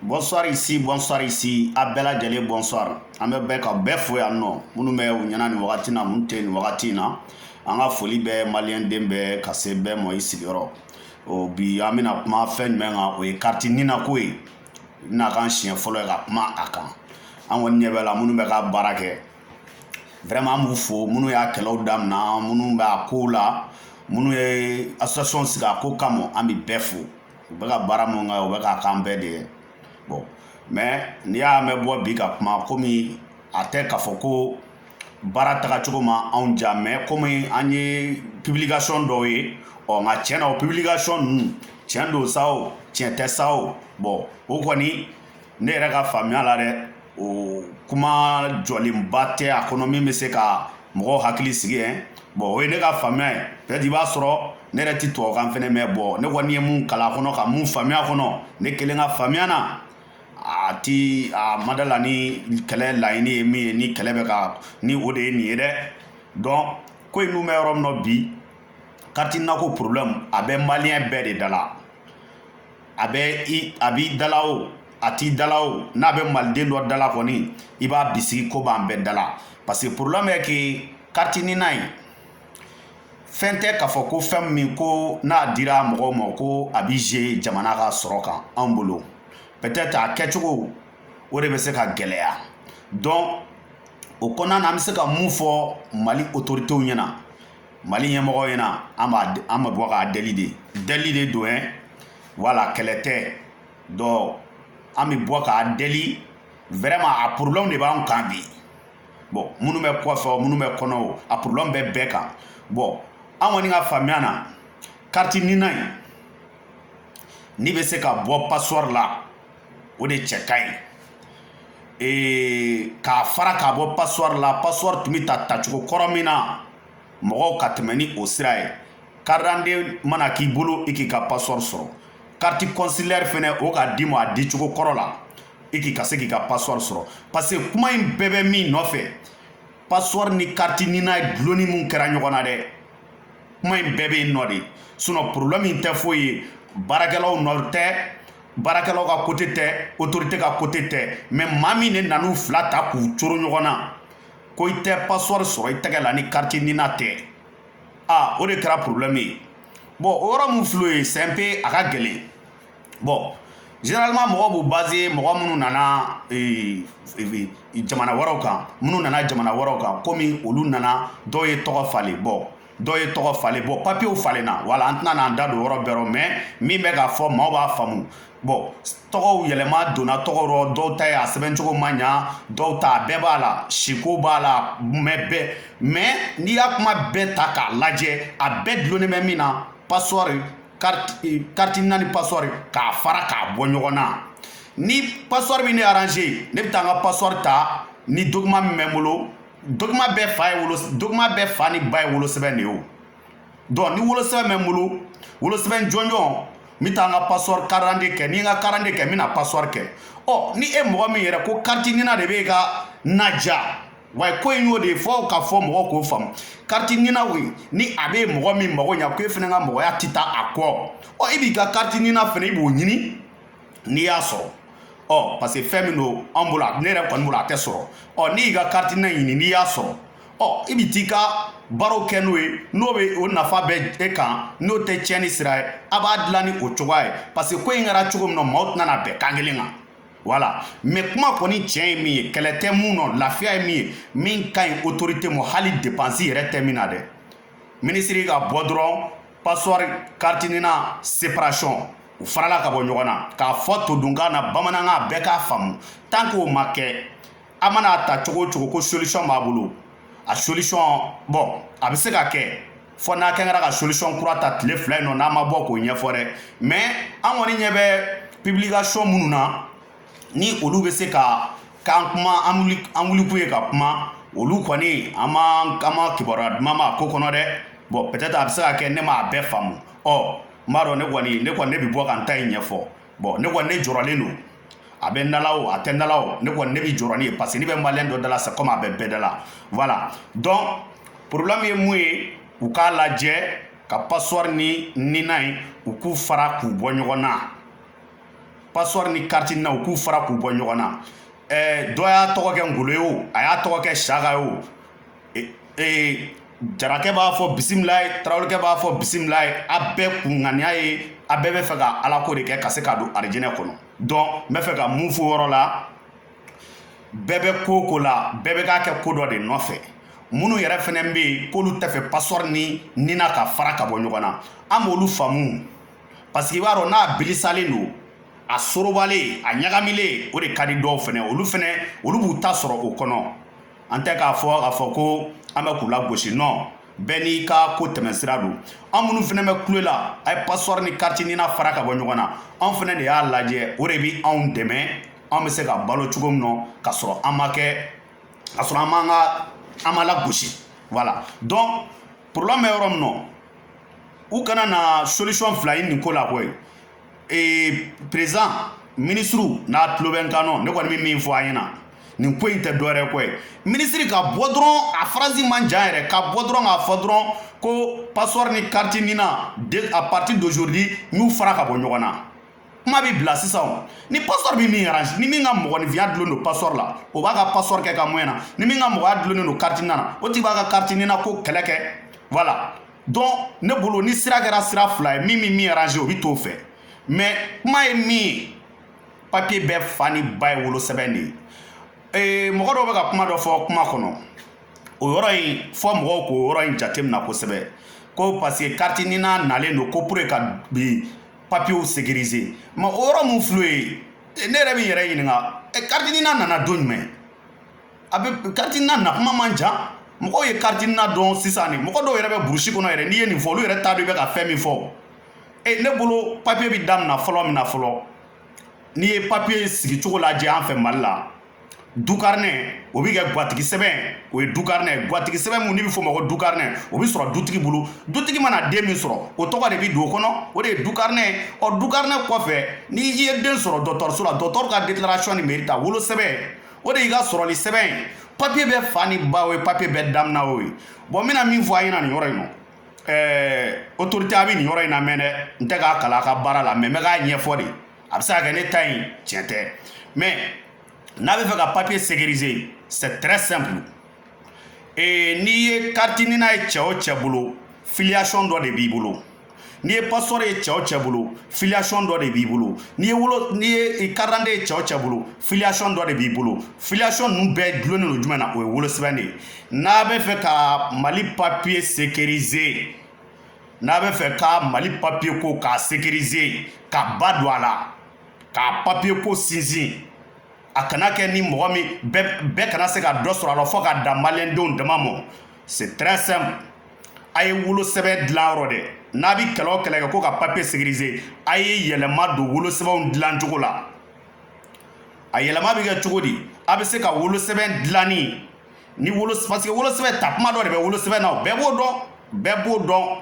Bonsoir ici, bonsoir ici, a bɛɛ lajɛlen bonsoir. An bɛ bɛɛ ka bɛɛ fo yan nɔ minnu bɛ u ɲɛna nin wagati na minnu tɛ nin wagati in na an ka foli bɛ maliyɛnden bɛɛ ka se bɛɛ ma i sigiyɔrɔ o bi an bɛna kuma fɛn jumɛn kan o ye kariti nina ko ye n'a kan siɲɛ fɔlɔ ye ka kuma a kan an kɔni ɲɛ b'a la minnu bɛ ka baara kɛ vraiment an b'u fo minnu y'a kɛlɛw damina minnu b'a ko la minnu ye association sigi a ko kama an bɛ bɛɛ fo u bɛ ka baara mun kɛ u bɛ k'a k'an bɛɛ de ye bon mais n'i y'a mɛn bɔ bi ka kuma komi a tɛ k'a fɔ ko baara tagacogo ma anw ja mais komi an ye publication dɔw ye ɔ nka tiɲɛ na o publication ninnu tiɲɛ don sa o tiɲɛ tɛ sa o bon o kɔni ne yɛrɛ ka faamuya la dɛ o kuma jɔlenba tɛ a kɔnɔ min bɛ se ka mɔgɔw hakili sigi yen bon o ye ne ka faamuya ye peut-être i b'a sɔrɔ ne yɛrɛ ti tubabukan fɛnɛ mɛn bon ne kɔni ye mun kalan a kɔnɔ ka mun faamuya a kɔnɔ ne kelen ka faamuya na a ti a ma da la ni kɛlɛ laɲini ye min ye ni kɛlɛ bɛ ka ni o de ye nin ye dɛ donc ko in dun bɛ yɔrɔ min na bi kariti nina ko problème a bɛ maliyɛn bɛɛ de da la a bɛ i a b'i dala o a t'i dala o n'a bɛ maliden dɔ dala kɔni i b'a bisigi k'o b'an bɛɛ dala parce que problème est que kariti nina in fɛn tɛ k'a fɔ ko fɛn min ko n'a dira mɔgɔw ma ko a bi jouer jamana ka sɔrɔ kan anw bolo peut-être a kɛcogo o de bɛ se ka gɛlɛya donc o kɔnɔna na an bɛ se ka mun fɔ mali otoritew ɲɛna mali ɲɛmɔgɔw ɲɛna an b'a an bɛ bɔ k'a deli de deli de don ɛ voilà kɛlɛ tɛ donc an bɛ bɔ k'a deli vraiment a problème de b'an kan bi bon minnu bɛ kɔfɛ minnu bɛ kɔnɔ o a problème bɛ bɛɛ kan bon an kɔni ka faamuya na kariti nina in n'i bɛ se ka bɔ passeport la o de cɛ ka ɲi k'a fara k'a bɔ passeport la passeport tun bɛ ta tacogo kɔrɔ min na mɔgɔw ka tɛmɛ ni o sira ye carte d'identité mana k'i bolo i k'i ka passeport sɔrɔ kariti consulaire fɛnɛ o ka d'i ma a dicogo kɔrɔ la i k'i ka se k'i ka passeport sɔrɔ parce que kuma in bɛɛ bɛ min nɔfɛ passeport ni kariti nina dulonni min kɛra ɲɔgɔn na dɛ kuma in bɛɛ bɛ yen nɔ de sinon problème in tɛ foyi ye baarakɛlaw nɔ tɛ baarakɛlaw ka côté tɛ autorité ka côté tɛ mais maa min ne nan'u fila ta k'u coro ɲɔgɔn na ko i tɛ passeport sɔrɔ i tɛgɛ la ni kariti nina tɛ aa o de kɛra problème ye bon o yɔrɔ min filɛ ye c'est un peu a ka gɛlɛn bon généralement mɔgɔw b'u baser mɔgɔ minnu nana eh, eh, jamana wɛrɛw kan minnu nana jamana wɛrɛw kan komi olu nana dɔw ye tɔgɔ falen bon dɔ ye tɔgɔ falen bɔn papiyew falenna voilà an tɛna n'an da don yɔrɔ bɛɛ rɔ mɛ min bɛ k'a fɔ maaw b'a faamu bɔn tɔgɔw yɛlɛma donna tɔgɔ rɔ dɔw ta ye a sɛbɛncogo ma ɲa dɔw ta a bɛɛ b'a la siko b'a la mɛ bɛɛ mɛ n'i y'a kuma bɛɛ ta k'a lajɛ a bɛɛ dulonnen bɛ min na pasɔri kariti nina ni pasɔri k'a fara k'a bɔ ɲɔgɔn na ni pasɔri min ne aranze ne bɛ taa n ka pasɔri ta ni dokiman min bɛ n bolo dɔkima bɛɛ fa ni ba ye wolosɛbɛn de ye o dɔn ni wolosɛbɛn bɛ n bolo wolosɛbɛn jɔnjɔn n bɛ taa n ka pasɔri karande kɛ ni n ka karande kɛ n bɛna pasɔri kɛ ɔ ni e mɔgɔ min yɛrɛ ko kariti nina de b'e ka naja wa ko in y'o de ye fɔ ka fɔ mɔgɔ k'o faamu kariti nina o ye ni a bɛ mɔgɔ min mago ɲa ko e fɛnɛ ka mɔgɔya tɛ taa a kɔ ɔ e b'i ka kariti nina fɛnɛ i b'o ɲini n'i y'a sɔrɔ ɔ parce que fɛn min don an bolo ne yɛrɛ kɔni bolo a tɛ sɔrɔ ɔ n'i y'i ka kariti nina ɲini n'i y'a sɔrɔ ɔ i bɛ t'i ka baaraw kɛ n'o ye n'o bɛ o nafa bɛ e kan n'o tɛ tiɲɛni sira ye a b'a dilan ni o cogoya ye parce que ko in kɛra cogo min na maaw tɛna na bɛn kan kelen kan voilà mɛ kuma kɔni tiɲɛ ye min ye kɛlɛ tɛ min nɔ lafiya ye min ye min ka ɲi otorite ma hali depansi yɛrɛ tɛ min na dɛ minisiri ka bɔ dɔrɔn passeport carte nina séparation u farala ka bɔ ɲɔgɔn na k'a fɔ todunkan na bamanankan bɛɛ k'a faamu tant que o ma kɛ a mana a ta cogo o cogo ko solution b'a bolo a solution bɔn a bɛ se ka kɛ fo n'a kɛra ka solution kura ta tile fila in nɔ n'a ma bɔ k'o ɲɛfɔ dɛ mais an kɔni ɲɛ bɛ publication minnu na ni olu bɛ se ka k'an kuma an wulikun ye ka kuma olu kɔni an ma kibaruya duman mɛn a ko kɔnɔ dɛ bɔn peut-être a bɛ se ka kɛ ne m'a bɛɛ faamu ɔ n b'a dɔn ne kɔni ne kɔni ne bɛ bɔ ka n ta in ɲɛfɔ bɔn ne kɔni ne jɔrɔlen don a bɛ n da la o a tɛ n da la o ne kɔni ne bɛ jɔrɔ nin ye parce que n'a bɛ maliyɛn dɔ da la sɛ kɔmi a bɛ bɛɛ da la voilà dɔn porobulɛmu ye mun ye u k'a lajɛ ka pasɔri ni nina in u k'u fara k'u bɔ ɲɔgɔn na pasɔri ni kariti nina u k'u fara k'u bɔ ɲɔgɔn na eh, dɔ y'a tɔgɔ kɛ ngolo ye o a y'a tɔgɔ kɛ saka ye o eh, eh, jarakɛ b'a fɔ bisimilayi tarawelekɛ b'a fɔ bisimilayi a bɛɛ kun ŋaniya ye a bɛɛ bɛ fɛ ka alako de kɛ ka se ka don arijinɛ kɔnɔ dɔn n bɛ fɛ ka mun fɔ o yɔrɔ la bɛɛ bɛ ko o ko la bɛɛ bɛ k'a kɛ ko dɔ de nɔfɛ minnu yɛrɛ fɛnɛ bɛ yen k'olu tɛ fɛ pasɔri ni nina ka fara ka bɔ ɲɔgɔn na an b'olu faamu parce que i b'a dɔn n'a bilisalen don a sorobalen a ɲagamilen o de ka di dɔw fɛnɛ olu fɛnɛ olu b'u ta sɔrɔ o kɔnɔ an tɛ k'a fɔ k'a fɔ ko an bɛ k'u lagosi non bɛɛ n'i ka ko tɛmɛsira don an minnu fɛnɛ bɛ kule la a ye pasɔri ni kariti nina fara ka bɔ ɲɔgɔn na an fɛnɛ de y'a lajɛ o de bi anw dɛmɛ an bɛ se ka balo cogo min nɔ ka sɔrɔ an ma kɛ ka sɔrɔ an m'an ka an ma lagosi voilà donc problème bɛ yɔrɔ min nɔ u kana na solution fila ɲini nin ko la koyi ee président ministre n'a tulo bɛ n kan nɔ ne kɔni bɛ min fɔ a ɲɛna nin ko in tɛ dɔwɛrɛ ko ye ministre ka bɔ dɔrɔn a phrase man jan yɛrɛ ka bɔ dɔrɔn k'a fɔ dɔrɔn ko passeport ni carte nina à partir d'aujourd'hui n y'u fara ka bɔ ɲɔgɔn na kuma bɛ bila sisan ni passeport bɛ min arranger ni min ka mɔgɔninfinya dulonnen don passeport la o b'a ka passeport kɛ ka moyen na ni min ka mɔgɔya dulonnen don carte nina na o tigi b'a ka carte nina ko kɛlɛ kɛ voilà donc ne bolo ni sira kɛra sira fila ye min min min arranger o bɛ t'o fɛ mais kuma ye min ye papier bɛɛ fa ni ba ye wolosɛbɛn de ye ee mɔgɔ dɔw bɛ ka kuma dɔ fɔ kuma kɔnɔ o yɔrɔ in fɔ mɔgɔw k'o yɔrɔ in jatemina kosɛbɛ ko parce que carte nina nalen don ko pour ka bi papier sécuriser mais o yɔrɔ mun filɛ ye e, ne yɛrɛ bɛ yɛrɛ ɲininka e, carte nina nana don jumɛn a bɛ carte nina na kuma man jan mɔgɔw ye carte nina dɔn sisan nin mɔgɔ dɔw yɛrɛ bɛ burusi kɔnɔ yɛrɛ n'i ye nin fɔ olu yɛrɛ t'a dɔn i bɛ ka fɛn min fɔ e ne bolo papier bɛ damina fɔlɔ min na fɔlɔ n'i ye papier sigi cogo lajɛ an fɛ mali la du carnet o bi kɛ gatigi sɛbɛn o ye du carnet gatigi sɛbɛn mun ni bɛ fɔ ma ko du carnet o bɛ sɔrɔ dutigi bolo dutigi mana den min sɔrɔ o tɔgɔ de bɛ don o kɔnɔ o de ye du carnet ɔ du carnet kɔfɛ ni i ye den sɔrɔ dɔgɔtɔrɔso la dɔgɔtɔrɔ ka déclaration ni mairie ta wolo sɛbɛn o de y'i ka sɔrɔli sɛbɛn ye papier bɛɛ fa ni ba o ye papier bɛɛ damina o ye bon n bɛna min fɔ a ɲɛna nin yɔrɔ in na ɛɛ autorité a bɛ nin yɔrɔ in namɛn dɛ n tɛ k'a kalan a ka baara la mais n bɛ k'a ɲɛfɔ de a bɛ se ka kɛ ne ta in tiɲɛ tɛ mais n'a bɛ fɛ ka papier sécuriser c'est très simple ee n'i ye carte nina ye cɛ o cɛ bolo filiation dɔ de b'i bolo n'i ye passeport ye cɛ o cɛ bolo filiation dɔ de b'i bolo n'i ye wolo n'i ye carte d'identité ye cɛ o cɛ bolo filiation dɔ de b'i bolo filiation ninnu bɛɛ dulonnen don jumɛn na o ye wolosɛbɛn de ye n'a bɛ fɛ ka mali papier sécuriser n'a bɛ fɛ ka mali papier ko k'a sécuriser ka ba don a la k'a papier ko sinsin a kana kɛ ni mɔgɔ min bɛɛ kana se ka dɔ sɔrɔ a la fo ka dan maliyɛndenw dama mɔ c'est très simple a ye wolosɛbɛn dilan yɔrɔ dɛ n'a bɛ kɛlɛ o kɛlɛ kɛ ko ka papier sécuriser a ye yɛlɛma don wolosɛbɛnw dilan cogo la a yɛlɛma bɛ kɛ cogo di a bɛ se ka wolosɛbɛn dilanni ni wolo parce que wolosɛbɛn ta kuma dɔ de bɛ wolosɛbɛn na o bɛɛ b'o dɔn bɛɛ b'o dɔn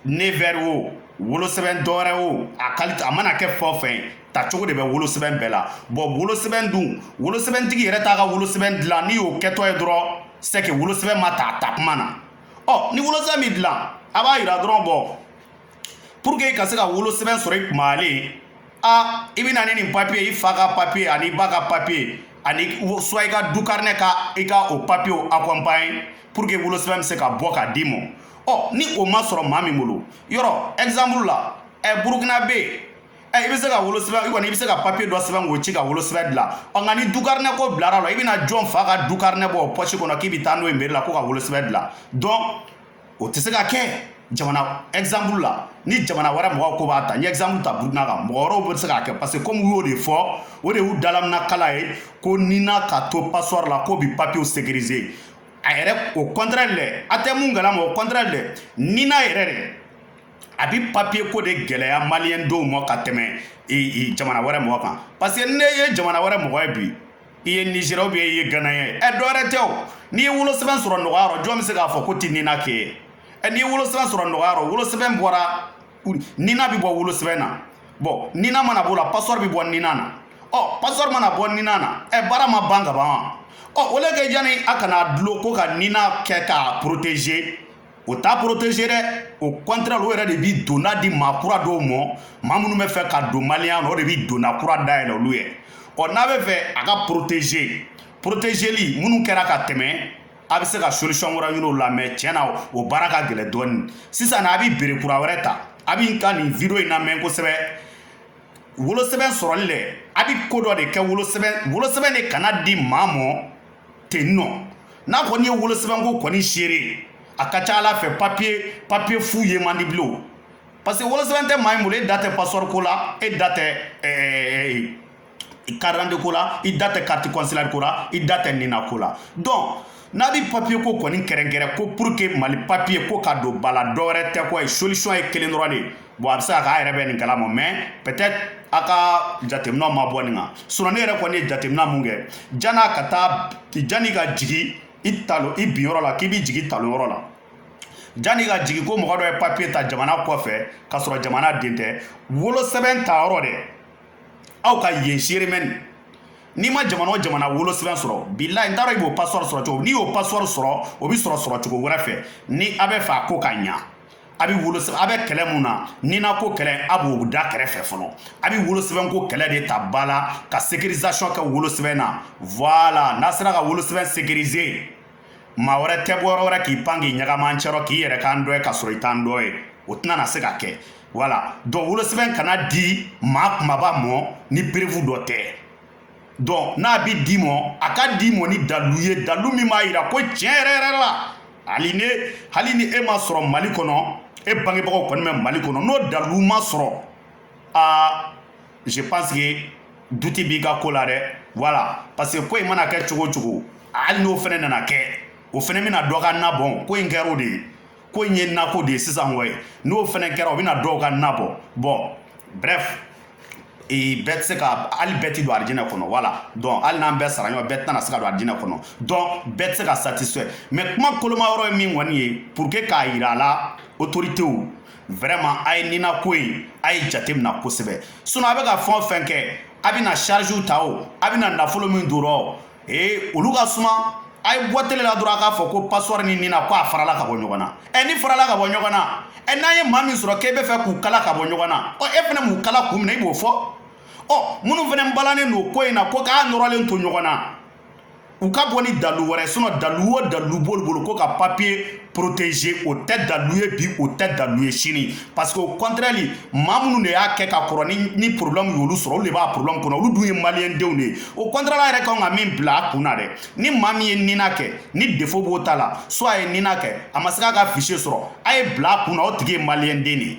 nevɛri o wolosɛbɛn dɔwɛrɛ o a qualité a mana kɛ fɛn o fɛn ta cogo de bɛ wolosɛbɛn bɛɛ la bon wolosɛbɛn dun wolosɛbɛntigi yɛrɛ t'a ka wolosɛbɛn dilan n'i y'o kɛtɔ ye dɔrɔn c'est que wolosɛbɛn ma ta a ta kuma na ɔ ni wolosɛbɛn min dilan a b'a yira dɔrɔn bɔ pour que i ka se ka wolosɛbɛn sɔrɔ i kumalen a i bɛ na ni nin papiye i fa ka papiye ani i ba ka papiye ani soit i ka du karinɛ ka i ka o papiyew accompagne pour que wolosɛbɛn bɛ se ka bɔ k'a d'i ma ɔ ni o ma sɔrɔ maa min bolo yɔrɔ exemple la ɛ burukina bɛ yen ɛ i bɛ se ka wolosɛbɛn i kɔni i bɛ se ka papiye dɔ sɛbɛn k'o ci ka wolosɛbɛn dilan ɔ nka ni du karinɛ ko bilara la i bɛna jɔn fa ka du karinɛ bɔ pɔsi kɔnɔ k'i bɛ taa n'o ye meri la ko ka wolosɛbɛn dilan donc o tɛ se ka kɛ jamana exemple la ni jamana wɛrɛ mɔgɔw ko b'a ta n ye exemple ta burukina kan mɔgɔ wɛrɛw bɛ se k'a kɛ parce que komi u y'o de fɔ o de y'u dalamina kala ye ko nina ka to passeport la k'o bi papiyew sécuriser a yɛrɛ o contraire lɛ a tɛ mun kalama o contraire lɛ nina yɛrɛ de a bi papiye ko de gɛlɛya maliyɛn denw ma ka tɛmɛ jamana wɛrɛ mɔgɔ kan parce que ne ye jamana wɛrɛ mɔgɔ ye bi i ye nizeriya ou bien i ye gana ye ɛ dɔwɛrɛ tɛ o n'i ye wolosɛbɛn sɔrɔ nɔgɔya rɔ jɔn bɛ se k'a fɔ ko tɛ nina kɛ ye ɛ n'i ye wolosɛbɛn sɔrɔ nɔgɔya rɔ wolosɛbɛn bɔra nina bɛ bɔ wolosɛbɛn na bon nina mana b'o la pasɔri bɛ bɔ nina na ɔ pasɔri mana bɔ nina na ɛ baara ma ban ka ban wa ɔ o le kɛ yanni a kana dulon ko ka nina kɛ k'a protéger o t'a protégé dɛ au contraire o yɛrɛ de bi donna di maa kura dɔw mɔ maa minnu bɛ fɛ ka don maliya na o de bi donna kura dayɛlɛ olu ye ɔ n'a bɛ fɛ a ka protégé protégeli minnu kɛra ka tɛmɛ a bɛ se ka solution wɛrɛ ɲini o la mais tiɲɛ na o baara ka gɛlɛn dɔɔni sisan na a bi bere kura wɛrɛ ta a bi n ka nin video in lamɛn kosɛbɛ wolosɛbɛn sɔrɔli lɛ a bi ko dɔ de kɛ wolosɛbɛn de kana di maa mɔ ten nɔ n'a kɔni ye wolosɛbɛnko kɔni serré a ka ca a la fɛ papiye papiye fu ye man di bilen parce que wolosɛbɛn tɛ maa min bolo e da tɛ pasɔri ko la e da tɛ eh, karidante ko la i da tɛ kariti kɔnsilari ko la i da tɛ nina ko la donc n'a bi papiye ko kɔni kɛrɛnkɛrɛn ko pour que mali papiye ko ka don ba la dɔwɛrɛ tɛ ko ye solution ye kelen dɔrɔn de bon a bɛ se ka kɛ a yɛrɛ bɛ nin kalama mais peut-être a ka jateminɛw ma bɔ nin kan sinon ne yɛrɛ kɔni ye jateminɛ mun kɛ jan'a ka taa jan'i ka jigi i talo i bin yɔrɔ la k'i b'i jigi talo yɔrɔ la janni ka jigi ko mɔgɔ dɔ ye papiye ta jamana kɔfɛ k'a sɔrɔ jamana den tɛ wolosɛbɛn ta yɔrɔ dɛ aw ka yen serré mais ni n'i ma jamana o jamana wolosɛbɛn sɔrɔ bilayi n t'a dɔn i b'o passeport sɔrɔ cogo n'i y'o passeport sɔrɔ o bɛ sɔrɔ sɔrɔ cogo wɛrɛ fɛ ni a bɛ fɛ a ko ka ɲa a bɛ wolo a bɛ kɛlɛ mun na nina ko kɛlɛ a b'o da kɛrɛfɛ fɔlɔ a bɛ wolosɛbɛn ko kɛlɛ de ta ba la ka sécurisation kɛ wolosɛbɛn na voilà n'a sera ka wolosɛbɛn sécuriser maa wɛrɛ tɛ bɔ yɔrɔ wɛrɛ k'i pan k'i ɲagami an cɛrɔ k'i yɛrɛ k'an dɔ ye ka sɔrɔ i t'an dɔ ye o tɛna na se ka kɛ voilà donc wolosɛbɛn kana di maa kumaba mɔ ni preuve dɔ tɛ donc n'a bɛ di mɔ a ka di mɔ ni dalu ye dalu min b'a jira ko tiɲɛ yɛrɛ yɛrɛ la hali ne hali ni e ma sɔrɔ mali kɔnɔ e bangebagaw kɔni bɛ mali kɔnɔ n'o dalu ma sɔrɔ aa je pense que duti b'i ka ko la dɛ voilà parce que ko in mana kɛ cogo cogo hali n'o fɛnɛ nana kɛ o fɛnɛ bɛna dɔ ka na bɔn ko in kɛra o de ye ko in ye nako de ye sisan koyi n'o fɛnɛ kɛra o bɛna dɔw ka na bɔn bon bref ee bɛɛ tɛ se ka hali bɛɛ ti don arijinɛ kɔnɔ voilà donc hali n'an bɛɛ sara ɲɔgɔn bɛɛ tɛna se ka don arijinɛ kɔnɔ donc bɛɛ tɛ se ka satisfait mais kuma koloma yɔrɔ ye min kɔni ye pour que k'a yira a la autoritew vraiment a ye nina ko ye a ye jate mina kosɛbɛ sinon a bɛ ka fɛn o fɛn kɛ a bɛna chargew ta o a bɛna nafolo min don a rɔ ee olu ka suma a ye bɔ tele la dɔrɔn a k'a fɔ ko passeport ni nina ko a farala ka bɔ ɲɔgɔn na ɛ ni farala ka bɔ ɲɔgɔn na ɛ n'an ye maa min sɔrɔ k'e bɛ fɛ k'u kala ka bɔ ɲɔgɔn na ɔ e fɛnɛ m'u kala kun min na i b'o fɔ ɔ minnu fɛnɛ balannen don ko in na ko k'a nɔrɔlen to ɲɔgɔn na u ka bɔ ni dalu wɛrɛ sinon dalu o dalu b'olu bolo ko ka papier protégé o tɛ dalu ye bi o tɛ dalu ye sini parce que au contraire maa minnu de y'a kɛ ka kɔrɔ ni ni problème y'olu sɔrɔ olu de b'a problème kɔnɔ olu dun ye maliyɛn denw de ye au contraire a yɛrɛ kan ka min bila a kun na dɛ ni maa min ye nina kɛ ni défaut b'o ta la soit a ye nina kɛ a ma se k'a ka fichier sɔrɔ a ye bila a kun na o tigi ye maliyɛn den de ye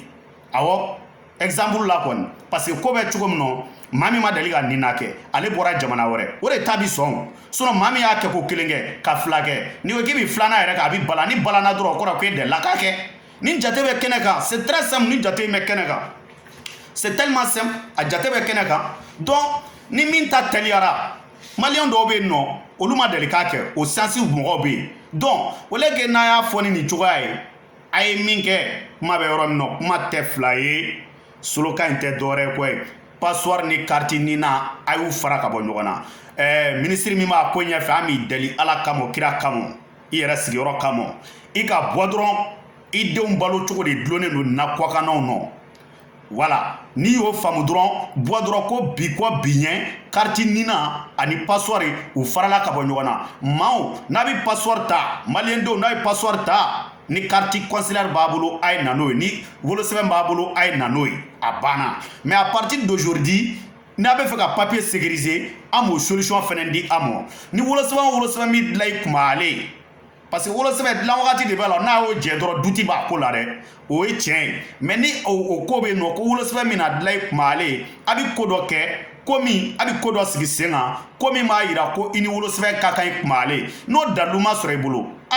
awɔ exemple la kɔni parce que ko bɛ cogo min nɔ maa min ma deli ka nina kɛ ale bɔra jamana wɛrɛ o de ta bi sɔn sinon maa min y'a kɛ ko kelen kɛ ka fila kɛ n'i ko k'i bi filanan yɛrɛ kɛ a bi bala ni balana dɔrɔn o kɔrɔ ko e delila k'a kɛ ni jate bɛ kɛnɛ kan c'est très simple ni jate bɛ kɛnɛ kan c'est tellement simple a jate bɛ kɛnɛ kan donc ni min ta tɛliyara maliyɛn dɔw bɛ yen nɔ olu ma deli k'a kɛ o sansiw mɔgɔw bɛ yen donc au lieu que n'a y'a fɔ ni nin cogoya ye a ye min kɛ kuma bɛ yɔrɔ min na kuma tɛ fila ye slogan in tɛ dɔwɛrɛ ko ye passeport ni kariti nina a y'u fara ka bɔ ɲɔgɔn na ɛɛ minisiri min b'a ko ɲɛfɛ an b'i deli ala kama kira kama i yɛrɛ sigiyɔrɔ kama i ka bɔ dɔrɔn i denw balo cogo de dulonnen don an kɔkannaw nɔ voilà n'i y'o faamu dɔrɔn bɔ dɔrɔn ko bi kɔ bi ɲɛ kariti nina ani passeport u farala ka bɔ ɲɔgɔn na maaw n'a bɛ passeport ta maliyendenw n'a ye passeport ta ni kariti consulaire b'a bolo a ye na n'o ye ni wolosɛbɛn b'a bolo a ye na n'o ye a banna mais à partir d'aujourd'hui n'a bɛ fɛ ka papier sécuriser an b'o solution fɛnɛ di a mɔ ni wolosɛbɛn wolosɛbɛn min dilan i kunba ale parce que wolosɛbɛ dilan wagati de b'a la n'a y'o jɛ dɔrɔn duti b'a ko la dɛ o ye tiɲɛ ye mais ni o ko bɛ yen nɔ ko wolosɛbɛ min na dilan ye kumale ye a bɛ ko dɔ kɛ ko min a bɛ ko dɔ sigi sen kan ko min b'a yira ko i ni wolosɛbɛ ka kan ye kumale n'o dalu ma sɔrɔ i bolo a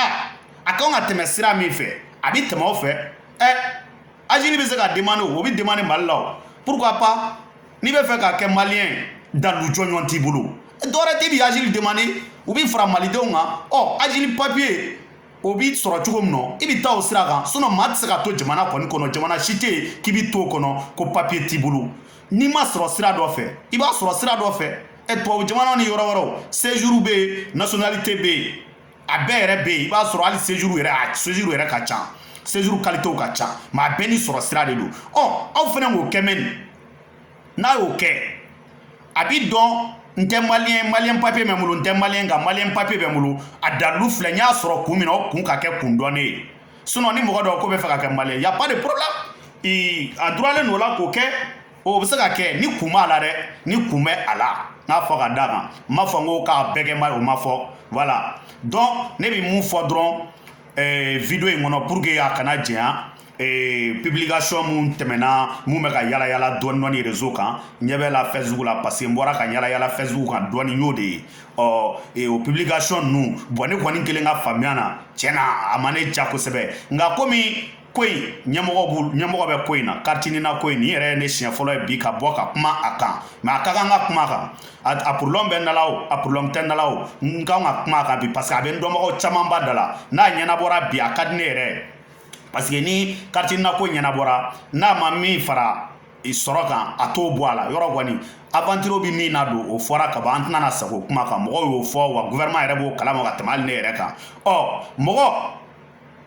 a kan ka tɛmɛ sira min fɛ a bɛ tɛmɛ o fɛ ɛ azili bɛ se ka demande o bɛ demande mali la o pourquoi pas n'i bɛ fɛ ka kɛ maliyɛn dalu jɔnjɔn t'i bolo dɔwɛrɛ tɛ i bɛ azili demande u b'i fara malidenw kan ɔ azili papiye o bɛ sɔrɔ cogo min na i bɛ taa o sira kan sinɔn maa tɛ se ka to jamana kɔni kɔnɔ jamana si tɛ yen k'i bɛ to o kɔnɔ ko papiye t'i bolo n'i m'a sɔrɔ sira dɔ fɛ i b'a sɔrɔ sira dɔ fɛ ɛ tubabu jamana ni yɔrɔ wɛrɛw sejuru bɛ yen nasiyonalite bɛ yen a bɛɛ yɛrɛ bɛ yen i b'a sɔrɔ hali sejuru yɛrɛ a sejuru yɛrɛ ka ca sejuru kalitew ka ca mɛ a bɛɛ n'i sɔrɔ sira de don ɔ aw fana k'o kɛ mɛ nin n'a y'o kɛ a bɛ dɔn n tɛ maliyɛn maliyɛn papiye bɛ n bolo n tɛ maliyɛn nka maliyɛn papiye bɛ n bolo a dalilu filɛ n y'a sɔrɔ kun min na o kun ka kɛ kun dɔnnen ye sinɔn ni mɔgɔ dɔ k'o bɛ fɛ ka kɛ maliyɛn y a pas de problème a droit de don o la k'o kɛ o bɛ se ka kɛ ni kun b'a la dɛ ni kun bɛ a la n k'a fɔ ka d'a kan n m'a fɔ n ko k'a bɛɛ kɛ n b'a ye o ma fɔ voilà donc ne bɛ mun fɔ dɔrɔn eh, video in kɔnɔ pour que a kana janya eh, publication min tɛmɛna min bɛ ka yala yala dɔɔni dɔɔni réseau kan ɲɛ bɛ la facebook la parce que n bɔra ka yala yala facebook kan dɔɔni n y'o de ye ɔ eh, o publication ninnu bɔn ne kɔni kelen ka faamuya na tiɲɛ na a ma ne ja kosɛbɛ nka komi ko in ɲɛmɔgɔ b'u ɲɛmɔgɔ bɛ ko in na kariti nina ko in nin yɛrɛ ye ne siɲɛ fɔlɔ ye bi ka bɔ ka kuma a kan mɛ a ka kan ka kuma a kan a problème bɛ n da la o a problème tɛ n da la o n kan ka kuma a kan bi parce que a bɛ n dɔnbagaw camanba da la n'a ɲɛnabɔra bi a ka di ne yɛrɛ ye parce que ni kariti nina ko ɲɛnabɔra n'a ma min fara sɔrɔ kan a t'o bɔ a la yɔrɔ kɔni aventiro bɛ min na don o fɔra ka ban an tɛna na sagin o kuma kan mɔgɔw y'o fɔ wa gouvernement yɛrɛ b'o kalama ka tɛmɛ hali ne yɛrɛ kan ɔ mɔgɔ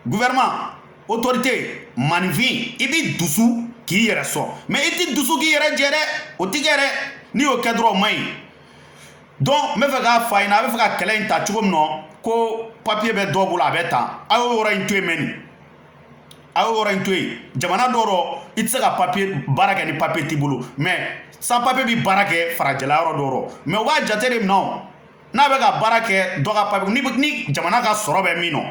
gouvernement autorité maaninfin i bɛ dusu k'i yɛrɛ sɔn mɛ i tɛ dusu k'i yɛrɛ jɛ dɛ o tɛ kɛ dɛ n'i y'o kɛ dɔrɔn o man ɲi donc n bɛ fɛ k'a fɔ a ɲɛna a bɛ fɛ ka kɛlɛ in ta cogo min na ko papiye bɛ dɔ bolo a bɛ tan a y'o yɔrɔ in to yen mɛ nin a y'o yɔrɔ in to yen jamana dɔw rɔ i tɛ se ka papiye baara kɛ ni papiye t'i bolo mɛ sans papiye bɛ baara kɛ farajɛla yɔrɔ dɔw rɔ mɛ u b'a jate de minɛ o n'a bɛ ka baara kɛ dɔ ka papiye ni ni jamana ka sɔrɔ bɛ min nɔ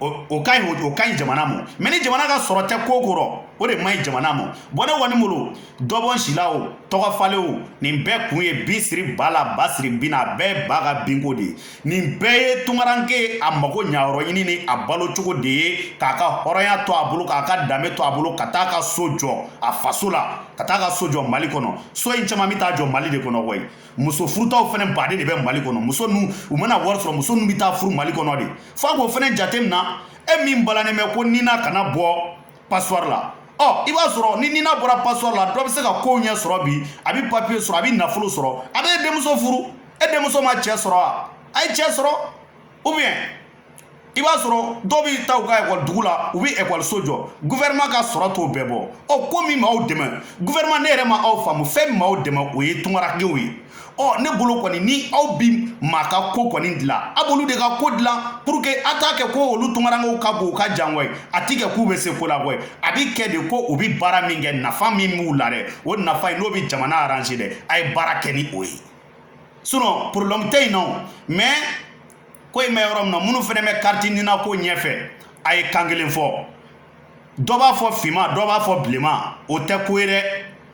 o ka ɲi o ka ɲi jamana ma mɛ ni jamana ka sɔrɔ tɛ ko ko rɔ o de man ɲi jamana ma bɔn ne kɔni bolo dɔ bɔ n si la o tɔgɔ falen o nin bɛɛ kun ye bin siri ba la ba siri bin na a bɛɛ ba ka binko de ye nin bɛɛ ye tungaranke a mago ɲayɔrɔ ɲini ni a balo cogo de ye k'a ka hɔrɔnya to a bolo k'a ka danbe to a bolo ka taa ka so jɔ a faso la ka taa ka so jɔ mali kɔnɔ so in caman bɛ taa jɔ mali de kɔnɔ koyi muso furutaw fana baden de bɛ mali kɔnɔ muso nu u mana wari sɔrɔ muso nu bɛ taa furu mali kɔnɔ de f'a k'o fana jate minɛ e min balannen bɛ ko nina kana bɔ passeport la ɔ i b'a sɔrɔ ni nina bɔra passeport la dɔ bɛ se ka kow ɲɛ sɔrɔ bi a bɛ papiye sɔrɔ a bɛ nafolo sɔrɔ a bɛ e denmuso furu e denmuso ma cɛ sɔrɔ wa a ye cɛ sɔrɔ ou bien i b'a sɔrɔ dɔw bi taa u ka ekɔli dugu la u bɛ ekɔliso jɔ gouvernement ka sɔrɔ t'o bɛɛ bɔ ɔ ko min m'aw dɛmɛ gouvernement ne yɛrɛ ma aw faamu fɛn min m'aw dɛmɛ o ye tungarankew ye ɔ ne bolo kɔni ni aw bi maa ka ko kɔni dilan a b'olu de ka ko dilan pour que a t'a kɛ ko olu tungarankew ka bon u ka jan koyi a ti kɛ k'u bɛ se ko la koyi a bi kɛ de ko u bi baara min kɛ nafa min b'u la dɛ o nafa in n'o bi jamana arranger dɛ a ye baara kɛ ni o ye sinon problème tɛ yen nɔ mais ko in bɛ yɔrɔ min na minnu fɛnɛ bɛ kariti nina ko ɲɛfɛ a ye kan kelen fɔ dɔ b'a fɔ finman dɔ b'a fɔ bilenman o tɛ ko ye dɛ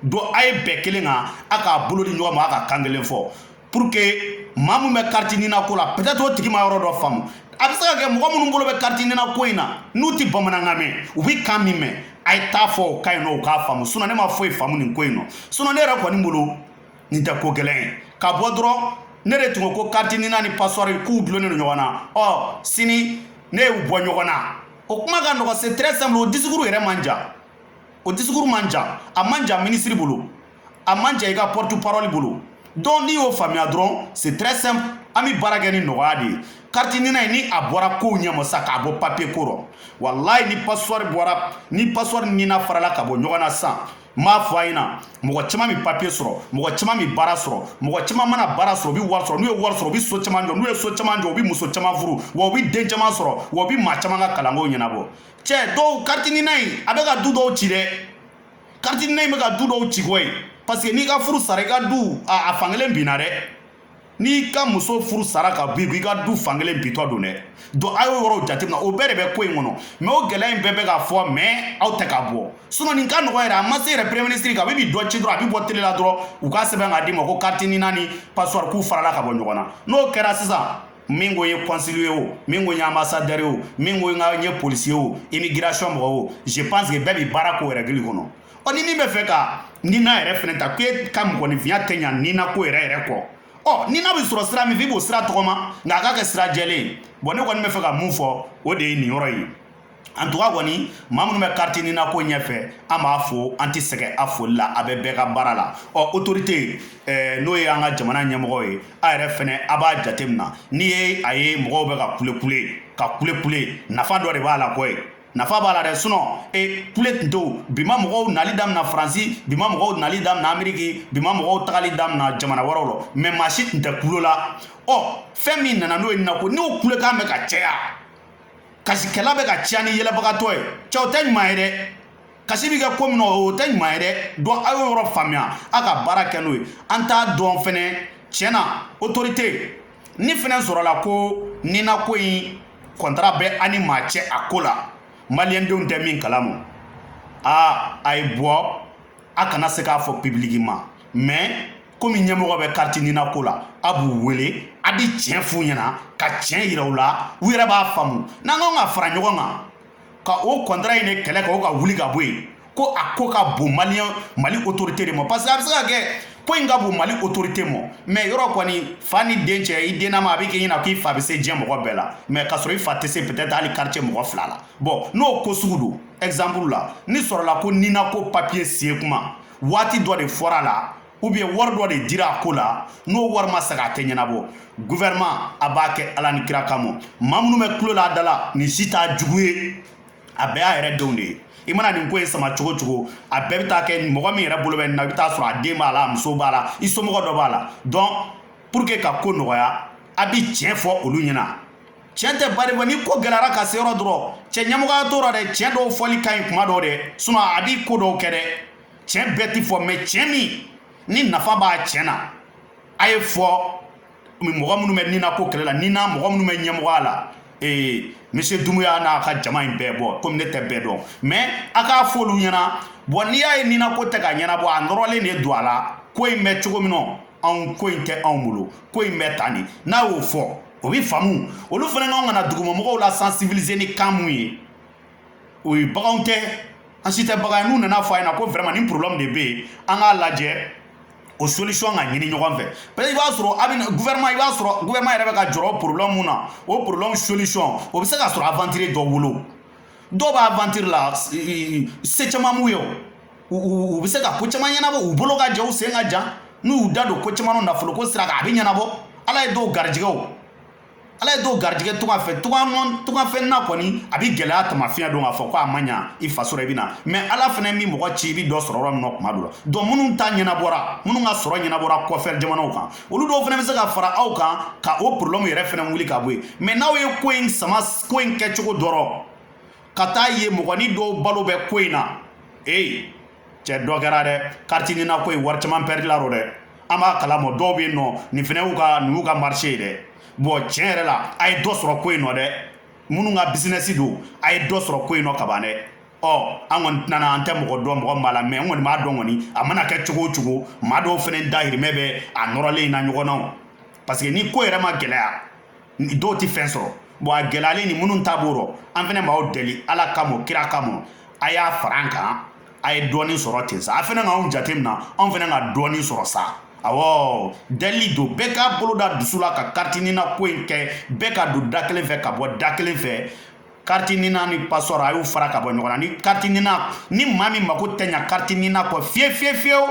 donc a ye bɛn kelen kan a k'a bolo di ɲɔgɔn ma a ka kan kelen fɔ pour que maa min bɛ kariti nina ko la peut-être o tigi ma yɔrɔ dɔ faamu a bɛ se ka kɛ mɔgɔ minnu bolo bɛ kariti nina ko in na n'u tɛ bamanankan mɛn u bɛ kan min mɛn a ye t'a fɔ o kan in nɔ u k'a faamu sinon ne ma foyi faamu nin ko in nɔ sinon ne yɛrɛ kɔni bolo nin tɛ ko gɛlɛn ye ka bɔ dɔrɔn ne de tun ko ko kariti nina ni pasɔri k'u dulonnen don ɲɔgɔn na ɔ sini ne y'u bɔ ɲɔgɔn na o kuma ka nɔgɔ c'est très simple o discours yɛrɛ man jan o discours man jan a man jan minisiri bolo a man jan i ka porte parole bolo donc n'i y'o faamuya dɔrɔn c'est très simple an bɛ baara kɛ ni nɔgɔya de ye kariti nina in ni a bɔra kow ɲɛma sa k'a bɔ papiye ko rɔ walayi ni pasɔri bɔra ni pasɔri nina farala ka bɔ ɲɔgɔn na sisan n b'a fɔ a ɲɛna mɔgɔ caman bɛ papiye sɔrɔ mɔgɔ caman bɛ baara sɔrɔ mɔgɔ caman mana baara sɔrɔ u bɛ wari sɔrɔ n'u ye wari sɔrɔ u bɛ so caman jɔ n'u ye so caman jɔ u bɛ muso caman furu wa u bɛ den caman sɔrɔ wa u bɛ maa caman ka kalanko ɲɛnabɔ cɛ dɔw kariti nina in a bɛ ka du dɔw ci dɛ kariti nina in bɛ ka du dɔw ci koyi parce que n'i ka furu sara i ka du a fankelen binna dɛ n'i ka muso furu sara ka bɔ i ka du fankelen bintɔ don dɛ donc a y'o yɔrɔw jateminɛ o bɛɛ de bɛ ko in kɔnɔ mais o gɛlɛya in bɛɛ bɛ ka fɔ mais aw tɛ ka bɔ sinon nin ka nɔgɔ yɛrɛ a ma se yɛrɛ premier ministre ka a bɛ bi dɔ ci dɔrɔn a bɛ bɔ tele la dɔrɔn u ka sɛbɛn k'a d'i ma ko carte nina ni pasɔri k'u farala ka bɔ ɲɔgɔn na n'o kɛra sisan min ko n ye kɔnsili ye o min ko n ye ambasadɛri ye o min ko n ka n ye polisi ye o immigration mɔgɔ o je pense que bɛɛ bɛ baara k'o règle kɔnɔ ɔ ni min bɛ fɛ ka nina yɛrɛ fɛnɛ ta k'e ka mɔgɔninfinya tɛ ɲa nina ko yɛrɛ yɛrɛ kɔ ɔ nina bɛ sɔrɔ sira min fɛ i b'o sira tɔgɔma nka a ka kɛ sira jɛlen ye bon ne kɔni bɛ fɛ ka min fɔ o de ye nin yɔrɔ ye en tout cas kɔni maa minnu bɛ kariti nina ko ɲɛfɛ an b'a fo an tɛ sɛgɛn a foli la a bɛ bɛɛ ka baara la ɔ autorité n'o ye an ka jamana ɲɛmɔgɔ ye a yɛrɛ fɛnɛ a b'a jateminɛ n'i ye a ye mɔgɔw bɛ ka kulekule ka kulekule nafa dɔ de b'a la koyi nafa b'a la dɛ sinon e kule tun tɛ bi ma mɔgɔw nali damina faransi bi ma mɔgɔw nali damina ameriki bi ma mɔgɔw tagali damina jamana wɛrɛw lɔ mais maa si tun tɛ kulo la ɔ fɛn min nana n'o ye nina ko n'o kulekan bɛ ka caya kasikɛla bɛ ka caya ni yɛlɛbagatɔ ye cɛ o tɛ ɲuman ye dɛ kasi bɛ kɛ ko min na o tɛ ɲuman ye dɛ donc aw y'o yɔrɔ faamuya aw ka baara kɛ n'o ye an t'a dɔn fɛnɛ tiɲɛ na otorite ni fɛnɛ sɔrɔla ko ninako in kɔntara bɛ an ni maa cɛ a ko la maliyɛndenw tɛ min kalama aa a ye bɔ a kana se k'a fɔ publiquement mɛ komi ɲɛmɔgɔ bɛ kariti ninako la a b'u wele a bɛ tiɲɛ f'u ɲɛna ka tiɲɛ yira u la u yɛrɛ b'a faamu n'an kan ka fara ɲɔgɔn kan ka o kɔntara in de kɛlɛ ka o ka wuli ka bɔ yen ko a ko ka bon maliyɛn mali otorite de ma parce que a bɛ se ka kɛ ko in ka bon mali otorite ma mɛ yɔrɔ kɔni fa ni den cɛ i dennama a bɛ k'i ɲɛna k'i fa bɛ se diɲɛ mɔgɔ bɛɛ la mɛ ka sɔrɔ i fa tɛ se peut-être hali quartier mɔgɔ fila la bɔn n'o ko sugu don exemple la ni sɔrɔla ko nina ko papier signer kuma waati dɔ de fɔra a la ou bien wari dɔ de dira a ko la n'o wari ma sagi a tɛ ɲɛnabɔ gouvernement a b'a kɛ ala ni kira kama maa minnu bɛ kulo la a da la nin si t'a jugu ye a bɛɛ y'a yɛrɛ denw de ye i mana nin ko in sama cogo cogo a bɛɛ bɛ taa kɛ mɔgɔ min yɛrɛ bolo bɛ nin na i bɛ taa sɔrɔ a den b'a la a muso b'a la i somɔgɔ dɔ b'a la donc pour que ka ko nɔgɔya a bɛ tiɲɛ fɔ olu ɲɛna tiɲɛ tɛ bari ni ko gɛlɛyara ka se yɔrɔ dɔ rɔ cɛ ɲɛmɔgɔya t'o la dɛ tiɲɛ dɔw fɔli ka ɲi kuma dɔw dɛ sinon a bɛ ko dɔw kɛ dɛ tiɲɛ bɛɛ ti fɔ mɛ tiɲɛ min ni nafa b'a tiɲɛ na a ye fɔ mɔgɔ minnu bɛ nina ko kɛlɛ la nina mɔgɔ minnu bɛ ɲɛmɔgɔya la ee monsieur dumuya n'a ka jama in bɛɛ bɔn komi ne tɛ bɛɛ dɔn mɛ a k'a fɔ olu ɲɛna bɔn n'i y'a ye nina ko tɛ ka ɲɛnabɔ a nɔrɔlen de don a la ko in bɛ cogo min nɔ anw ko in tɛ anw bolo ko in bɛ tan de n'a y'o fɔ o bɛ faamu olu fana kan ka na dugumamɔgɔw la sensibiliser ni kan min ye o ye baganw tɛ an si tɛ bagan ye n'u nana fɔ a ɲɛna ko vraiment nin problème de bɛ yen an k'a lajɛ o solution ka ɲini ɲɔgɔn fɛ parce que i b'a sɔrɔ a bɛ gouvernement i b'a sɔrɔ gouvernement yɛrɛ bɛ ka jɔrɔ problème min na o problème solution o bɛ se ka sɔrɔ aventurier dɔ bolo dɔw bɛ aventure la se caman b'u ye o u bɛ se ka ko caman ɲɛnabɔ u bolo ka jan u sen ka jan n'u y'u da don ko caman na nafolo ko sira kan a bɛ ɲɛnabɔ ala ye dɔw garijɛgɛw ala ye dɔw garijɛgɛ tunga fɛ tungafɛn na kɔni a bɛ gɛlɛya taama fiɲɛ don k'a fɔ ko a ma ɲa i faso la i bɛ na mɛ ala fana bɛ mɔgɔ ci i bɛ dɔ sɔrɔ yɔrɔ min na kuma dɔ la donc minnu ta ɲɛnabɔra minnu ka sɔrɔ ɲɛnabɔra kɔfɛ jamanaw kan olu dɔw fana bɛ se ka fara aw kan ka o problɛmu yɛrɛ fana wuli ka bɔ yen mɛ n'aw ye ko in sama ko in kɛcogo dɔrɔn ka taa ye mɔgɔni dɔw balo bɛ ko in na ee cɛ dɔ kɛra dɛ kariti nina ko in wari caman pɛrɛdila a rɔ dɛ an b'a kalama dɔw bɛ yen nɔ nin fana y'u ka nin y'u ka marise ye dɛ bɔn tiɲɛ yɛrɛ la a ye dɔ sɔrɔ ko in nɔ dɛ minnu ka bisinɛsi don a ye dɔ sɔrɔ ko in nɔ kaban dɛ ɔ an kɔni tɛnana an tɛ mɔgɔ dɔn mɔgɔ min b'a la mɛ n kɔni b'a dɔn kɔni a mana kɛ cogo o cogo maa dɔw fana dahirimɛ bɛ a nɔrɔlen in na ɲɔgɔn na parce que ni ko yɛrɛ ma gɛlɛya dɔw tɛ fɛn sɔrɔ bon a gɛlɛyalen ni minnu ta b'o rɔ an fana b'aw deli ala kama kira kama a y'a fara an kan a ye dɔɔnin sɔrɔ ten sa a fana k'anw jateminɛ anw fana ka dɔɔnin sɔrɔ sa awɔ deli don bɛɛ k'a bolo da dusu la ka kariti nina ko in kɛ bɛɛ ka don da kelen fɛ ka bɔ da kelen fɛ kariti nina ni pasɔri a y'u fara ka bɔ ɲɔgɔn na ni kariti nina ni maa min mako tɛ ɲa kariti nina kɔ fiye fiye fiyewu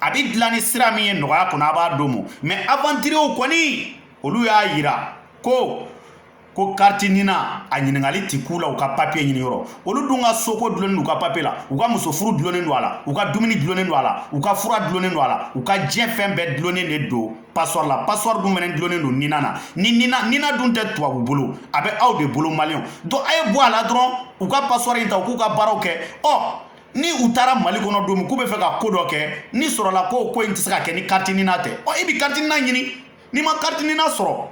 a bɛ dilan ni sira min ye nɔgɔya kɔnɔ a b'a d'o ma mais aventuriers kɔni olu y'a yira ko ko kariti nina a ɲininkali ti k'u la u ka papiye ɲini yɔrɔ olu dun ka soko dulonnen don u ka papiye la u ka muso furu dulonnen don a la u ka dumuni dulonnen don a la u ka fura dulonnen don a la u ka diɲɛ fɛn bɛɛ dulonnen de don pasɔri la pasɔri dun fɛnɛ dulonnen don nina na ni nina nina dun tɛ tubabu bolo a bɛ aw de bolo maliyɛnw donc a ye bɔ a la dɔrɔn u ka pasɔri in ta u k'u ka baaraw kɛ ɔ ni u taara mali kɔnɔ don min k'u bɛ fɛ ka ko dɔ kɛ ni sɔrɔla ko ko in tɛ se ka kɛ ni kariti nina tɛ ɔ i bɛ kariti nina ɲini n'i ma kariti nina sɔrɔ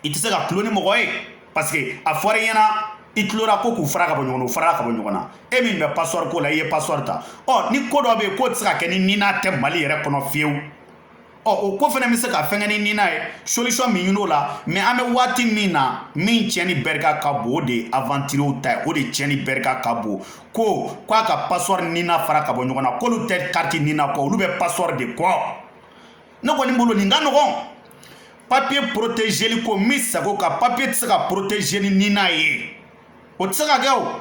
i tɛ se ka tulo ni mɔgɔ ye parce que a fɔra i ɲɛna i tulo ra ko k'u fara ka bɔ ɲɔgɔn na u farala ka bɔ ɲɔgɔn na e min bɛ pasɔri ko la i ye pasɔri ta ɔ ni ko dɔ bɛ yen k'o tɛ se ka kɛ ni nina tɛ mali yɛrɛ kɔnɔ fiyewu ɔ o ko fana bɛ se ka fɛnkɛ ni nina ye solution bɛ ɲini o la mais an bɛ waati min na min tiɲɛni bɛrika ka bon o de ye aventuriers ta ye o de tiɲɛni bɛrika ka bon ko k'a ka passeport nina fara ka bɔ ɲɔgɔn na k'olu tɛ kariti nina kɔ olu bɛ passeport de kɔ ne kɔni bolo nin ka nɔgɔn papiye protégeli ko min sago ka papiye tɛ se ka protégé ni nina ye o tɛ se ka kɛ o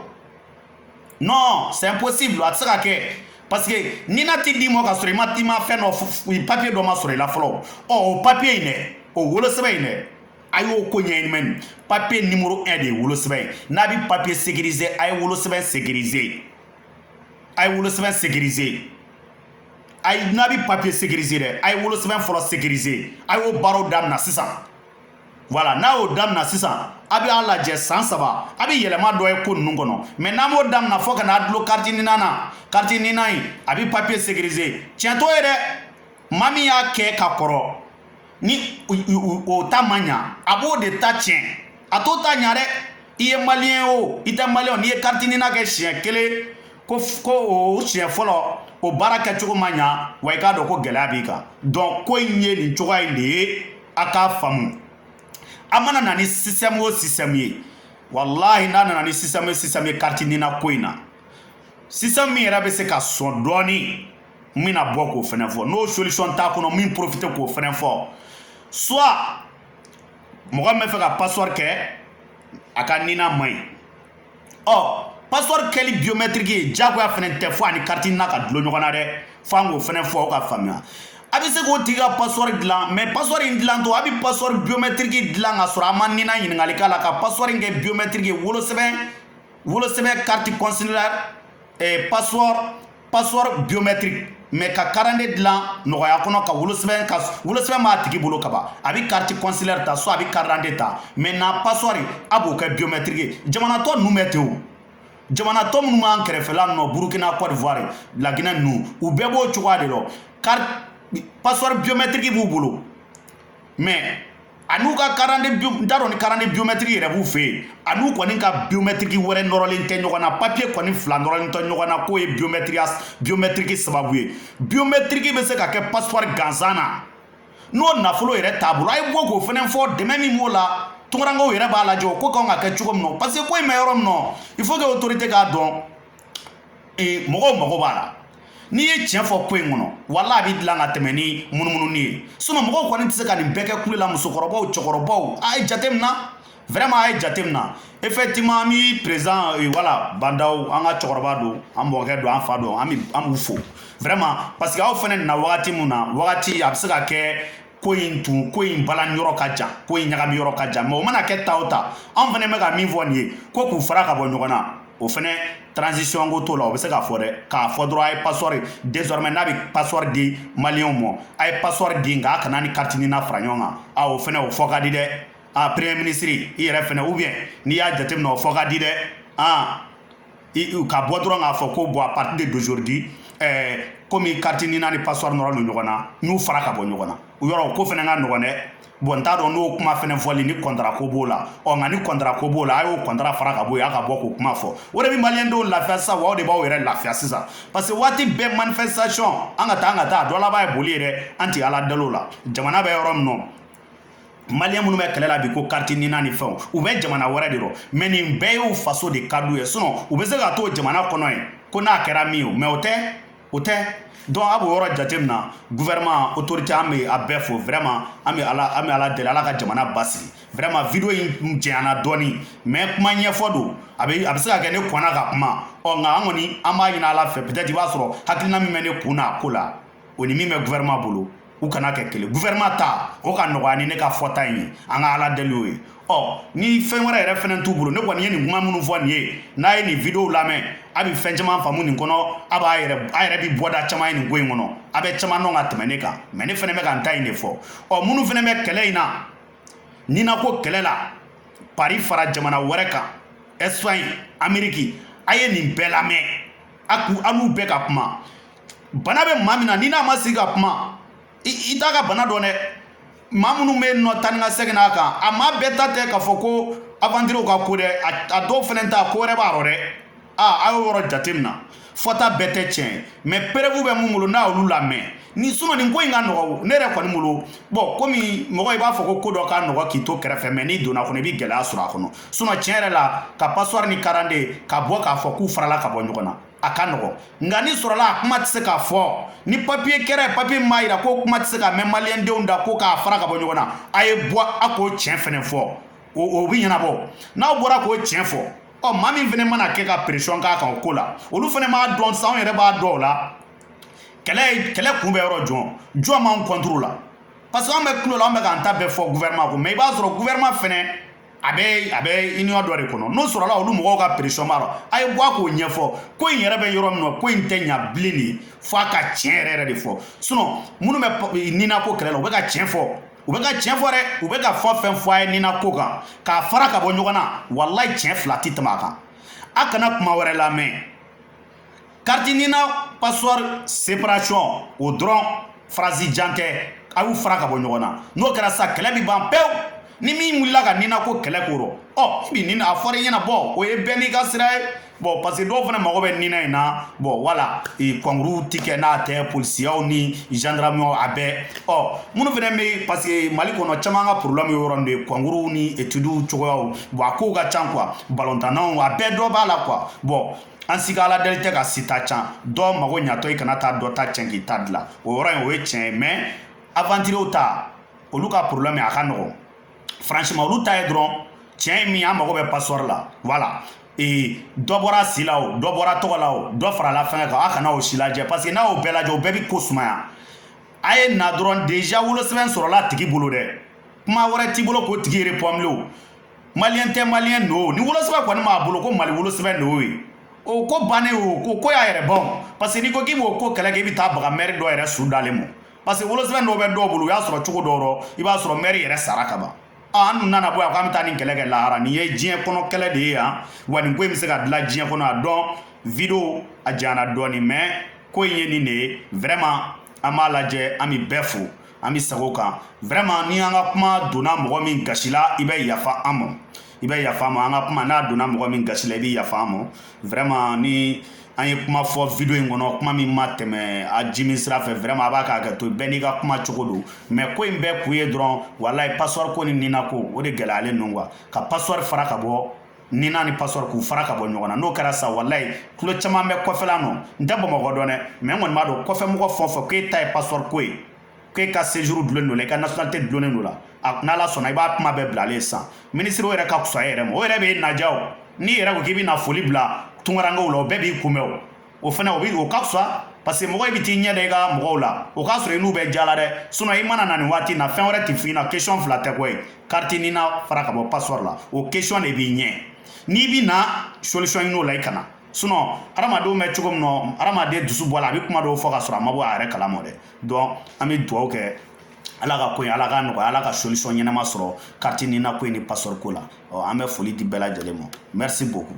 non c'est impossible a tɛ se ka kɛ parce que nina ti d'i ma k'a sɔrɔ i ma fɛn dɔ papier dɔ ma sɔrɔ i la fɔlɔ ɔ o papier in dɛ o wolosɛbɛn in dɛ a y'o ko ɲɛɲini mais nin papier numéro 1 de ye wolosɛbɛn ye n'a bɛ papier sécurisé a ye wolosɛbɛn sécurisé a ye wolosɛbɛn sécurisé a ye n'a bɛ papier sécurisé dɛ a ye wolosɛbɛn fɔlɔ sécurisé a y'o baaraw daminɛ sisan voilà n'a y'o daminɛ sisan a bɛ a lajɛ san saba a bɛ yɛlɛma dɔ ye ko ninnu kɔnɔ mais n'a m'o daminɛ fo ka n'a dulon kariti nina na kariti nina in a bɛ papiye sécurisé tiɲɛ t'o ye dɛ maa min y'a kɛ ka kɔrɔ ni o ta ma ɲa a b'o de ta tiɲɛ a t'o ta ɲa dɛ i ye maliyɛn o i tɛ maliyɛn o n'i ye kariti nina kɛ siɲɛ kelen ko o siɲɛ fɔlɔ o baara kɛcogo ma ɲa wa i k'a dɔn ko gɛlɛya b'i kan donc ko in ye nin cogoya in de ye a k'a faamu a mana na ni système o système ye walahi n'a nana ni système o système ye kariti nina ko in na système min yɛrɛ bɛ se ka sɔn dɔɔni n bɛna bɔ k'o fɛnɛ fɔ n'o solution t'a kɔnɔ n bɛ profite k'o fɛnɛ fɔ soit mɔgɔ min bɛ fɛ ka passeport kɛ a ka nina man ɲi ɔ passeport kɛli biométrique ye diyagoya fɛnɛ tɛ fo ani carte nina ka dulon ɲɔgɔn na dɛ fo an k'o fɛnɛ fɔ aw ka faamuya a bɛ se k'o tigi ka passeport dilan mais passeport in dilantɔ a bɛ passeport biométrique dilan ka sɔrɔ a ma nina ɲininkali k'a la ka passeport in kɛ biométrique ye wolosɛbɛn wolosɛbɛn carte consulaire eh, passeport passeport biométrique mais ka karande dilan nɔgɔya kɔnɔ ka wolosɛbɛn ka wolosɛbɛn b'a tigi bolo kaban a bɛ carte consulaire ta soit a bɛ karande ta maintenant passeport a b'o kɛ biométrique ye jamana tɔ ninnu bɛ ten o jamana tɔ minnu b'an kɛrɛfɛla nɔ burkina côte d'ivoire laginɛ ninnu u bɛɛ b'o cogoya de lɔ kari passeport biométrique b'u bolo mais a n'u ka karande n t'a dɔn ni karande biométrique yɛrɛ b'u fɛ yen a n'u kɔni ka biométrique wɛrɛ nɔrɔlen tɛ ɲɔgɔn na papier kɔni fila nɔrɔlen tɛ ɲɔgɔn na k'o ye biomɛtiri biométrique sababu ye biométrique bɛ se ka kɛ passeport gansan na n'o nafolo yɛrɛ t'a bolo a ye bɔ k'o fɛnɛ fɔ dɛmɛ min b'o la tunkarankew yɛrɛ b'a lajɛ o ko kan ka kɛ cogo min na parce que ko in bɛ yɔrɔ min na il faut que autorité k'a dɔn ee mɔgɔw mago b'a la n'i ye tiɲɛ fɔ ko in kɔnɔ wala a bɛ dilan ka tɛmɛ ni munumununi ye sinon mɔgɔw kɔni tɛ se ka nin bɛɛ kɛ kule la musokɔrɔbaw cɛkɔrɔbaw a ye jateminɛ vraiment a ye jateminɛ effectivement an bɛ président euh, wala bah n'daw an ka cɛkɔrɔba don an mɔkɛ don an fa don an b'u fo vraiment parce que aw fɛnɛ nana wagati min na wagati a bɛ se ka kɛ ko in tun ko in balani yɔrɔ ka jan ko in ɲagami yɔrɔ ka jan mais o mana kɛ ta o ta an fɛnɛ bɛ ka min fɔ nin ye ko k'u fara ka bɔ ɲɔgɔn na o fɛnɛ transition ko t'o la o bɛ se k'a fɔ dɛ k'a fɔ dɔrɔn a ye passeport désormais n'a bɛ passeport di maliyɛnw ma a ye passeport di nka a kan'a ni carte nina fara ɲɔgɔn kan a o fɛnɛ o fɔ ka di dɛ a premier ministre i yɛrɛ fɛnɛ ou bien n'i y'a jateminɛ o fɔ ka di dɛ an ka bɔ dɔrɔn k'a fɔ ko bon à partir de d'aujourd'hui eh, komi carte nina ni passeport nɔrɔlen don ɲɔgɔn na n'u fara ka bɔ ɲɔgɔn na o yɔrɔ ko fɛnɛ ka nɔgɔn dɛ bon n t'a dɔn n'o kuma fɛnɛ fɔli ni contrat ko b'o la ɔ nka ni contrat ko b'o la a y'o contrat fara ka bɔ yen a ka bɔ k'o kuma fɔ o de bɛ maliyɛn dɔw lafiya sisan wa o de b'aw yɛrɛ lafiya sisan parce que waati bɛɛ manifestation an ka taa an ka taa a dɔ laban ye boli ye dɛ an tɛ ala dali o la jamana bɛ yɔrɔ min nɔ maliyɛn minnu bɛ kɛlɛ la bi ko carte nina ni fɛnw u bɛ jamana wɛrɛ de rɔ mais nin bɛɛ y'u faso de ka d'u ye sinon u bɛ se ka to jamana kɔnɔ yen ko n'a kɛra min ye mais o tɛ o tɛ donc a b'o yɔrɔ jateminɛ gouvernement autorité an bɛ a bɛɛ fo vraiment an bɛ ala an bɛ ala deli ala ka jamana basigi vraiment video in janyana dɔɔni mais kuma ɲɛfɔ don a bɛ a bɛ se ka kɛ ne kɔnna ka kuma ɔ nka an kɔni an b'a ɲini ala fɛ peut-être i b'a sɔrɔ hakilina min bɛ ne kun na a ko la o ni min bɛ gouvernement bolo u kana kɛ kelen gouvernement ta o ka nɔgɔya ni ne ka fɔta in ye an ka ala deli o ye ɔ ni fɛn wɛrɛ yɛrɛ fɛnɛ t'u bolo ne kɔni ye nin kuma minnu fɔ nin ye n'a ye nin video lamɛn a bɛ fɛn caman faamu nin kɔnɔ a b'a yɛrɛ a yɛrɛ bi bɔda caman ye nin ko in kɔnɔ a bɛ caman dɔn ka tɛmɛ ne kan mais ne fɛnɛ bɛ ka n ta in de fɔ ɔ minnu fɛnɛ bɛ kɛlɛ in na nina ko kɛlɛ la pari fara jamana wɛrɛ kan ɛsipaɲi ameriki a ye nin bɛɛ lamɛn a k'u an'u bɛɛ ka kuma bana bɛ maa min na n'i n'a ma sigi ka kuma i t'a ka bana dɔn dɛ maa minnu bɛ yen nɔ taa ni ka segin n'a kan a maa bɛɛ ta tɛ k'a fɔ ko aventurew ka ko dɛ a dɔw fɛnɛ ta ko wɛrɛ b'a rɔ dɛ aa a y'o yɔrɔ jate min na fɔta bɛɛ tɛ tiɲɛ ye mais preuve bɛ mun bolo n'a y'olu lamɛn ni sinon nin ko in ka nɔgɔ ne yɛrɛ kɔni bolo bɔn komi mɔgɔ i b'a fɔ ko ko dɔ ka nɔgɔ k'i to kɛrɛfɛ mais n'i donna kɔnɔ i bɛ gɛlɛya sɔrɔ a kɔnɔ sinon tiɲɛ yɛrɛ la ka passeport ni karadante ka bɔ k'a fɔ k'u farala ka bɔ ɲɔgɔn na a ka nɔgɔ nka ni sɔrɔla a kuma tɛ se k'a fɔ ni papiye kɛra yen papiye m'a yira ko kuma tɛ se ka mɛn maliyɛndenw da ko k'a fara ka bɔ ɲɔgɔn na a ye bɔ a k'o tiɲɛ fɛnɛ fɔ o bɛ ɲɛnabɔ n'aw bɔra k'o tiɲɛ fɔ ɔ maa min fɛnɛ mana kɛ ka pression k'a kan o ko la olu fɛnɛ b'a dɔn sisan anw yɛrɛ b'a dɔn o la kɛlɛ kɛlɛ kun bɛ yɔrɔ jɔn jɔn b'anw contre la parce que anw bɛ kulo la anw bɛ k'an ta bɛɛ fɔ gouvernement ko mais i b'a sɔrɔ gouvernement fɛnɛ a bɛ a bɛ union dɔ de kɔnɔ n'o sɔrɔla olu mɔgɔw ka pression b'a rɔ a ye bɔ a k'o ɲɛfɔ ko in yɛrɛ bɛ yɔrɔ min na ko in tɛ ɲa bilen de fo a ka tiɲɛ yɛrɛ yɛrɛ de fɔ sinon minnu bɛ nina ko kɛlɛ la u bɛ ka tiɲɛ fɔ u bɛ ka tiɲɛ fɔ dɛ u bɛ ka fɛn o fɛn fɔ a ye nina ko kan k'a fara ka bɔ ɲɔgɔn na walayi tiɲɛ fila tɛ tɛmɛ a kan a kana kuma wɛrɛ lamɛn kariti nina passeport séparation o dɔrɔn phrase jan tɛ a y'u fara ka bɔ ɲɔgɔn na n'o kɛra sa kɛlɛ bi ban pewu ni min wulila ka nina ko kɛlɛ ko rɔ ɔ bi nina a fɔra i ɲɛna bɔn o ye bɛɛ n'i ka sira ye bɔn parce que dɔw fana mago bɛ nina in na bɔn wala kɔnkuruw ti kɛ n'a tɛ polisiyaw ni gendarmew a bɛɛ ɔ minnu fana bɛ parce que mali kɔnɔ caman ka problème y'o yɔrɔ de ye kɔnkuruw ni etudiw cogoyaw bɔn a kow ka can quoi balontannaw a bɛɛ dɔ b'a la quoi bɔn an si ka ala deli tɛ ka si ta cɛn dɔ mago ɲatɔ i kana taa dɔ ta cɛn k'i ta dilan o yɔrɔ in o ye tiɲɛ ye mais aventurier ta olu ka problème a ka nɔgɔn franchement olu ta ye dɔrɔn tiɲɛ ye min an mago bɛ passeport la voilà ee dɔ bɔra si la o dɔ bɔra tɔgɔ la o dɔ farala fɛngɛ kan a kana o si lajɛ parce que n'a y'o bɛɛ lajɛ o bɛɛ bi ko sumaya a ye na dɔrɔn déjà wolosɛbɛn sɔrɔla a tigi bolo dɛ kuma wɛrɛ t'i bolo k'o tigi repɔmle o maliyɛn tɛ maliyɛn don ni wolosɛbɛn kɔni b'a bolo ko mali wolosɛbɛn don ye o ko bannen o ko ko y'a yɛrɛ ban parce que n'i ko k'i b'o ko kɛlɛ kɛ i bɛ taa baga mɛri dɔ yɛrɛ su dalen ma parce que wolosɛbɛn dɔw bɛ dɔw bolo u y'a sɔrɔ cogo dɔw rɔ i b'a sɔrɔ mɛri yɛrɛ sara ka ban an dun nana bɔ yan k'an bɛ taa nin kɛlɛ kɛ lahara nin ye diɲɛ kɔnɔ kɛlɛ de ye yan wa nin ko in bɛ se ka dilan diɲɛ kɔnɔ a donc video a janyana dɔɔni mais ko in ye nin de ye vraiment an b'a lajɛ an bɛ bɛɛ fo an bɛ sago kan vraiment ni an ka kuma donna mɔgɔ min gasi la i bɛ yafa an ma i bɛ yafa an ma an ka kuma n'a donna mɔgɔ min gasi la i bɛ yafa an ma vraiment ni an ye kuma fɔ video in kɔnɔ kuma min ma tɛmɛ a jimin sira fɛ vraiment a b'a ka hakɛ to bɛɛ n'i ka kuma cogo don mais ko in bɛɛ kun ye dɔrɔn walayi passeport ko ni nina ko o de gɛlɛyalen don quoi ka passeport fara ka bɔ nina ni passeport k'u fara ka bɔ ɲɔgɔn na n'o kɛra sa walayi tulo caman bɛ kɔfɛla nɔ n tɛ bamakɔ dɔn dɛ mais n kɔni b'a dɔn kɔfɛmɔgɔ fɛn o fɛn k'e ta ye passeport ko ye k'e ka séjour dulonnen don la i ka nationalité dulonnen don la n'ala sɔnna i b'a kuma bɛɛ bilalen sisan minisiri o yɛrɛ ka fisa e yɛrɛ ma o yɛrɛ bɛ e naja o n'i yɛrɛ ko k'i bɛ na foli bila tunkarankew la o bɛɛ b'i kunbɛn o o fana o ka fisa parce que mɔgɔ i bɛ t'i ɲɛ da i ka mɔgɔw la o k'a sɔrɔ i n'u bɛ diya la dɛ sinon i mana na nin waati in na fɛn wɛrɛ tɛ f'i ɲɛna question fila tɛ koyi carte nina fara ka bɔ passeport la o question de b'i ɲɛ n'i bɛ na solution ɲini o la i kana sinon hadamadenw bɛ cogo min na hadamaden dusu bɔ a la a bɛ kuma dɔw fɔ ka sɔrɔ a ma bɔ a yɛrɛ kalama dɛ donc an bɛ dugawu kɛ ala ka ko in ala ka nɔgɔya ala ka solution ɲɛnama sɔrɔ carte nina ko in ni passeport ko la an bɛ foli di bɛɛ lajɛlen ma merci beaucoup